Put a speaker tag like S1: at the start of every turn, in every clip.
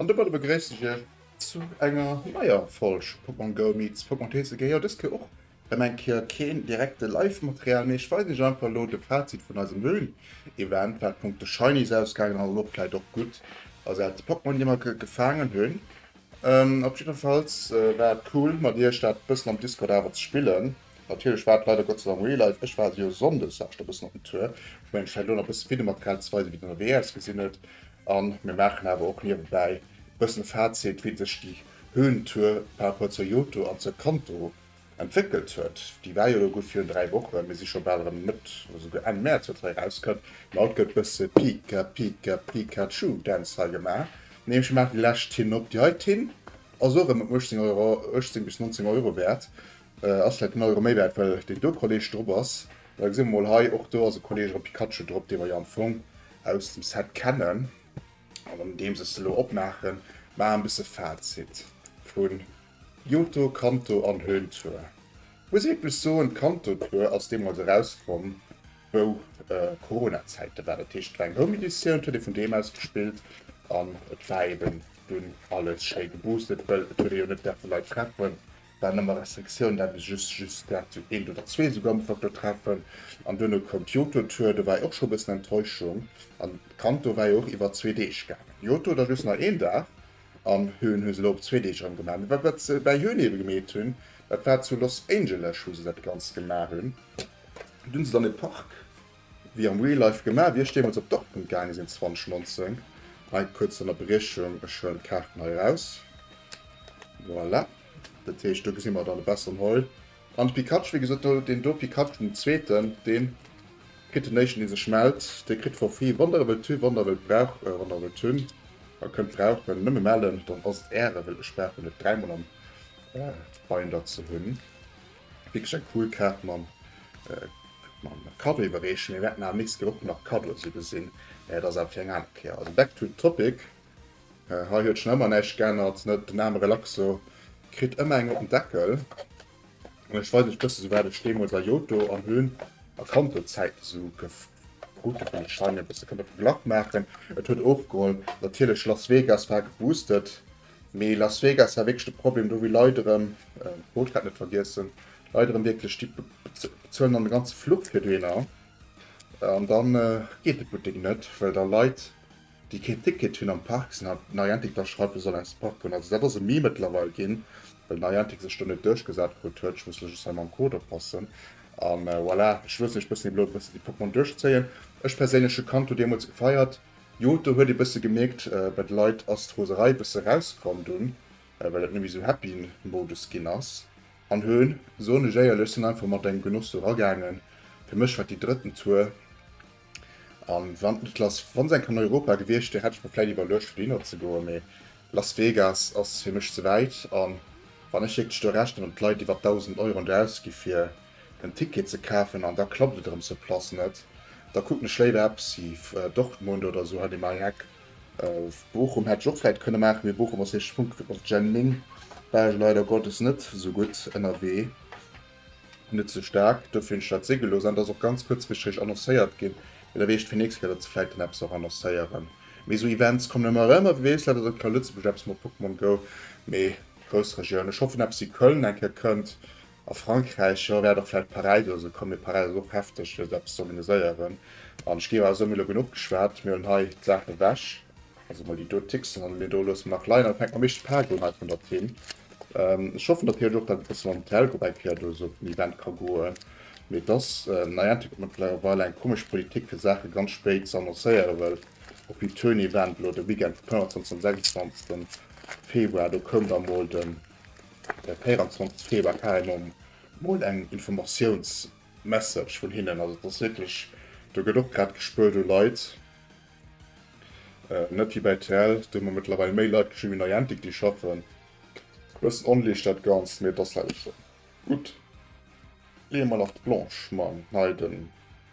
S1: An domadder begréissen ech iech zu enger neier Folg Pokémon Go meets Pokémon TCG. Jo, dës Kéier och erëm eng Kéier keen direkte Live Material, mee ech weisen iech einfach elo de Fazit vun eisem Höhlen Event wat Punkto Shinies ausgaangen ass an och vläit och gutt ersat Pokémon déi mer gefaangen hunn. Op jiddefalls war et cool mat iech dat bëssen am Discord awer ze spillen. Natierlech war et leider Gott sei Dank real life, ech war jo Sonndes war ech da bëssen op dem Tour, hu eng Schäin do nach bësse Videomaterial ze weisen wéi et dann ewéi ausgesinn huet an mir maachen awer och niewebäi bëssen e Fazit wéi sech déi Höhentour par rapport zur Yoto an zur Kanto entwéckelt huet. Déi war jo elo gutt virun 3 Wochen, mir si scho bal erëm Mëtt oder souguer Enn März wat hei erauskënnt, mä haut gëtt bësse Pika Pika Pikachu Dance hei gemaach, nee ech maachen déi lescht hinop, déi heiten ass och erëm ëm 18 Euro, 18 bis 19 Euro wäert, Ass vläit den Euro méi wäert well deen do Kolleg drop ass. Da gesi mer mol hei, och do ass e Kolleg erëm Pikachu drop, dee mer jo am Fong aus dem Set kennen. An andeems ech se elo opmaachen, maache e bësse Fazit vu Johto, Kanto an Höhntour. Muss ech wierklech soen, d'Kanto Tour ass deemools erauskomm, wou Corona-Zäite waren. Dat heescht, et war eng Home Editioun, et huet ee vun doheem aus gespillt an et war eeben dunn alles schéi geboostet, well et huet ee jo net däerfe Leit treffen. Dann ëmmer Restriktioun, dat ass just just dat sou eent oder zwee esou Goumpfer do treffen. An duerno koum d'Joto Tour, do war jo och scho e bëssen Enttäuschung. An d'Kanto war jo och iwwer zwee Deeg gaangen. Joto da just nach een Dag. An Höhen hu se elo op zwee Deeg erëm gemaach. Mee wat wat se bäi Höhen ebe gemeet hunn, dat war zu Los Angeles wou se dat Ganzt gemaach hunn. Do hunn se dann e Park. Wéi am Real Life gemaach, wier ech deemools op Dortmund gaange sinn 2019. Hei kuerz Ënnerbriechung, ech huelen d'Kaarten hei eraus. Voilà. Dat heescht do gesi mer dann e besseren Heul. An de Pikachu, wéi gesot, do deen do Pikachu, den zweeten, dee kritt den éischten dee sech mellt, dee kritt for free Wann der e wëllt hu, wann der e wëllt brauch, wann der e wëllt hunn a kënnt brauchen, nëmme mellen, dann ass et äre, well ech brauch en net dräimol am Binder ze hunn. Wierklech eng cool Kaart mam Cadeau iwwerreechen. Mir wäerten awer nächst Kéier och nach Cadeaus iwwersinn, mä dat ass awer fir eng aner Kéier. Also back to the topic, Hei huet schonn ëmmer näischt geännert, net? Den Name Relaxo kritt ëmmer eng op den Deckel. An ech weisen iech e bësse souwat ech deemools a Johto an Höhn a Kanto-Zäiten esou gekrut hunn, wann ech hei mir e bësse kënnt op de Glak maachen. Et huet ofgeholl, natierlech, Las Vegas war geboostet, Mee Las Vegas war wierklech de Problem, do hu Leit erëm, Bootkat net vergiessen, Leit erëm wierklech, déi bezuelen dann de ganze Fluch fir dohinner an da geet de Buttek net, well da Leit, déi keen Ticket hunn, am Park sinn an Niantic da schreift, e soll aus dem Park goen. Also dat ass e Meme mëttlerweil ginn, well Niantic sech do net duerchgesat krut huet. Ech muss lech just hei mam Code oppassen a voilà. Ech loossen iech bëssen elo e bëssen déi Pokémon duerchzéien. Ech perséinlech hu Kanto deemools gefeiert. Jo, do huet ee bësse gemierkt, bei de Leit ass d'Roserei bësse rauskomm dunn, well et nëmme sou Happy-Modus ginn ass. An hun, soen ech éierlech, sinn einfach mat engem Genoss do ragaangen. Fir mech war et déi drëtten Tour, an wann et lass, wann se eng Kéier an Europa gewiescht wier, hätt ech mer vläit iwwerluecht fir dohinner ze goen, mee Las Vegas ass fir mech ze wäit, an wann ech wierklech do rechnen, wat d'Leit iwwert 1.000 Euro an der ausgi fir den Ticket ze kafen an da klappt et erëm sur place net, da kucken ech léiwer eppes ewéi Dortmund oder esou hei beim Eck. Bochum hätt ech och vläit kënne maachen, mee Bochum ass éischt Punkt op Jemmling, war ech leider Gottes net esou gutt ënnerwee, net esou staark, dofir hunn ech dat si gelooss an et ass och ganz kuerzfrichteg annoncéiert ginn, mee da wéi ech fir nächst Kéier, datt se vläit dann eppes och annoncéieren, mee esou Events kommen ëmmer erëm a wie weess, vläit ass och hei a Lëtzebuerg eppes mat Pokémon Go, mee grouss Regioun. Ech hoffen eppes ewéi Köln eng Kéier kënnt, A Frankräich, jo, wäert och vläicht Paräis oder sou kommen, mee Paräis ass och hefteg fir esou eppes ze organiséieren. An ech géif awer soen, mir hu elo genuch geschwat, mir hunn hei d'Saachen ewech, also emol déi do Ticksen, an déi do loosse mir nach leien, an da fänke mer am meeschte Pak un hei vun der Team. Ech hoffen natierlech och, datt et e bësse mam Hotel och eng Kéier do esou op den Event ka goen, mee et ass Niantic, dat mëttlerweil eng komesch Politik fir Saache ganz spéit ze annoncéieren, well op hiert Tourneevent elo de Weekend vum 25. an 26. Februar, do koum da mol de. De 24 Februar kar emmer mol eng Informatiouns Message vun hinnen. Also et ass wierklech, do gëtt och grad gespuert u Leit. Net wéi bei rtl, do hu mer mëttlerweil méi Leit geschriwwen wéi Niantic déi schaffen. E bëssen onleesch dat Ganzt, mee et ass leider sou. Gutt, leeë mer nach d'Blanche mam Hei den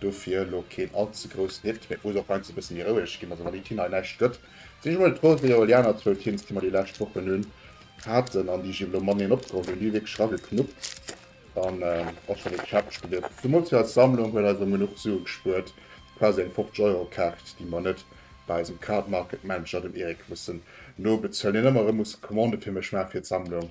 S1: Dofir elo keen allze groussen Hit, mee d'Musek och heiansdo e bësse méi roueg ginn. Also wann déi Tina hei näischt gëtt, sinn ech mol frou, wéi elo déi aner zwou Tins, déi mer déi lescht Wochen hunn haten an déi ech elo mateneen opgeholl hunn, déi hu wierklech rageknuppt an och schonn ee Käpp gespiert. Zemools hir eis Sammlung huet eis erëm genuch Sue gespuert, quasi eng 50 Euro Kaart, déi mer net bei eisem Card Market Manager, dem Eric, mussen nobezuelen, deen ëmmer erëm muss Commande fir mech maache fir d'Sammlung.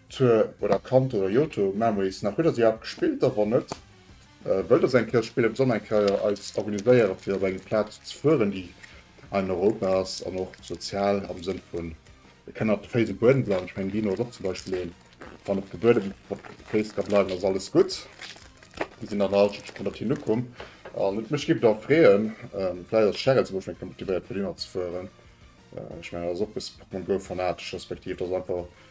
S1: Tour oder Kanto oder Johto Memories nach? Huet der se iwwerhaapt gespillt? A wann net, wëllt der se eng Kéier spillen, besonnen eng Kéier eis organiséieren, fir op eng Plaz ze fueren, déi an Europa ass an och sozial am Sënn vun e kann op de Féiss um Buedem bleiwen? Ech mengen, Dino ass och zum Beispill een, wann op de Buedem, op de Féiss ka bleiwen, ass alles gutt. Mir sinn dann all schonns ënnert him ukomm an et mech géif et och freeën, vläicht ass d'Cheryl zum Beispill eng Kéier motivéiert, fir dohinner ze fueren. Ech mengen, dat ass och e bësse Pokémon Go fanatesch, respektiv dat ass einfach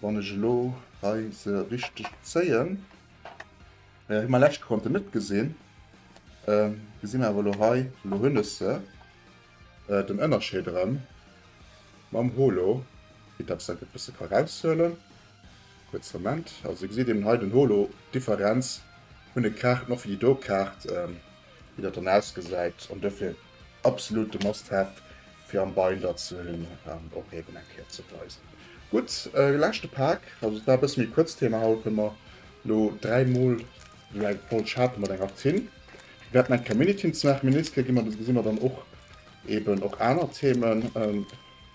S1: Wann ech elo hei se richteg zéien, hu mer lescht konnten net gesinn, gesi mer awer elo hei, elo hunn ech se, den Ënnerscheed erëm mam Holo, quitte datt ech se e bësse ka raushuelen, kuerze Moment, also Dir gesitt eben hei den Holo, d'Differenz vun de Kaarten, och fir déi do Kaart, wéi dat dann ausgesäit an dofir absolut e must have fir am Binder ze hunn an och eben eng Kéier ze weisen. Gutt, leschte Pak, also et war e bësse méi kuerz d'Thema haut, hu mer elo dräi Mol esou eng voll Charte mat enger Tinn. Mir wäerten eng Kéier Mini-Tinn ze maachen, Menisque gi mer, da gesi mer dann och eben och aner Themen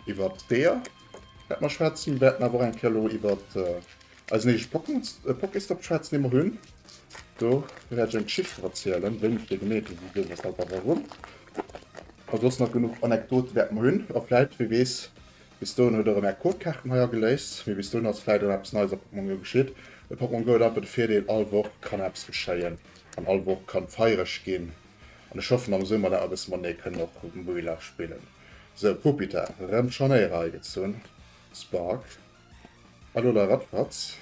S1: iwwert deer wäerte mer schwätzen. Mir wäerten awer och eng Kéier elo iwwert Eisen éischt Pokestop schwätzen emol un. Do wäert ech eng Geschicht drop erzielen, wéini fir genee, wéisouso, weshalb, wa warum. A soss nach genuch Anekdote wäerte mer hunn. A vläit, wie weess, bis dohin huet der erëm Är Codekaarten hei ageléist. Mee bis dohin ass vläit erëm eppes Neies a Pokémon Go geschitt. A Pokémon Go huet einfach de Virdeel, all Woch kann eppes geschéien an all Woch kann feiereg ginn. An ech hoffen am Summer dat mer e bësse matenee kënnen och Rotom Go Village spillen. Sou, Puppita, rëm d'Scharnéiere hei gezunn. Spark. Hallo der Radfratz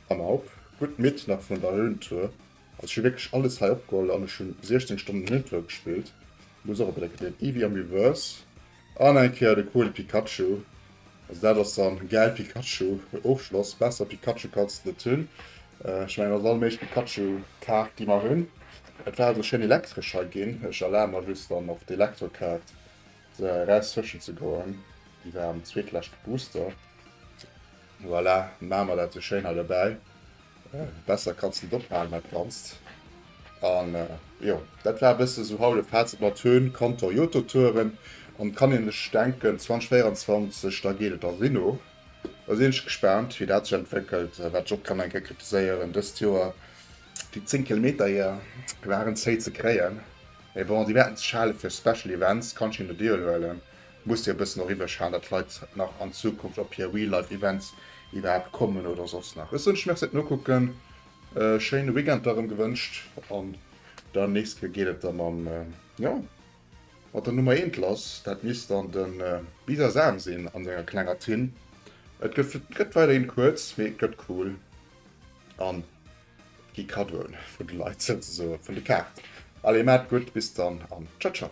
S1: am Haup, gutt midd nach vun der Höhentour. Also ech hu wierklech alles hei opgeholl an ech hu 16 Stonnen Höhentour gespillt. Muss och op Electric Eel, Eevee am Reverse an eng Kéier de coole Pikachu. Also dat ass dann gäil Pikachu Ofschloss, besser Pikachu kanns de net hunn. Ech mengen ass all méigleche Pikachu Kaart déi mer hunn. Et war also schéin Elektresch hei ginn, ech erlabe mer just dann och d'Elektro Kaart. Sou eraus fëschen ze goen, déi war am zweetleschte Booster. Voilà, maan mer dat sou schéin hei dobäi. Besser kanns de net ophaalen dat ganzt. An jo, dat war e bësse sou haut e Fazit mat Höhen, Kantor, Jototouren. An kann een sech denken, 2024, da geet et a Rhino. Da sinn ech gespaant, wéi dat sech entwéckelt. Wat ech och kann eng Kéier kritiséieren, dëst Joer, déi 10 Kilometer hier waren zéi ze kréien. Mee bon, déi Wäerten ze schale fir Special Events kann scheen de Deal huelen. Muss dir e bëssen och iwwerschalen, datt Leit nach an Zukunft op hir Real Life Events iwwerhaapt kommen oder soss nach. Ech soen iech Merci fir d'Nokucken, e schéine Weekend da rëm gewënscht an der nächste Kéier geet et da mam, jo, mat der Nummer eent lass. Dat misst dann de Bisasam sinn a senger klenger Tin. Et gëtt weiderhin kuerz, mee et gëtt cool an. Gi Kaddoen vun de Leit zouzesoen vun de Kaart. Allez maat gudd bis dann an ciao ciao.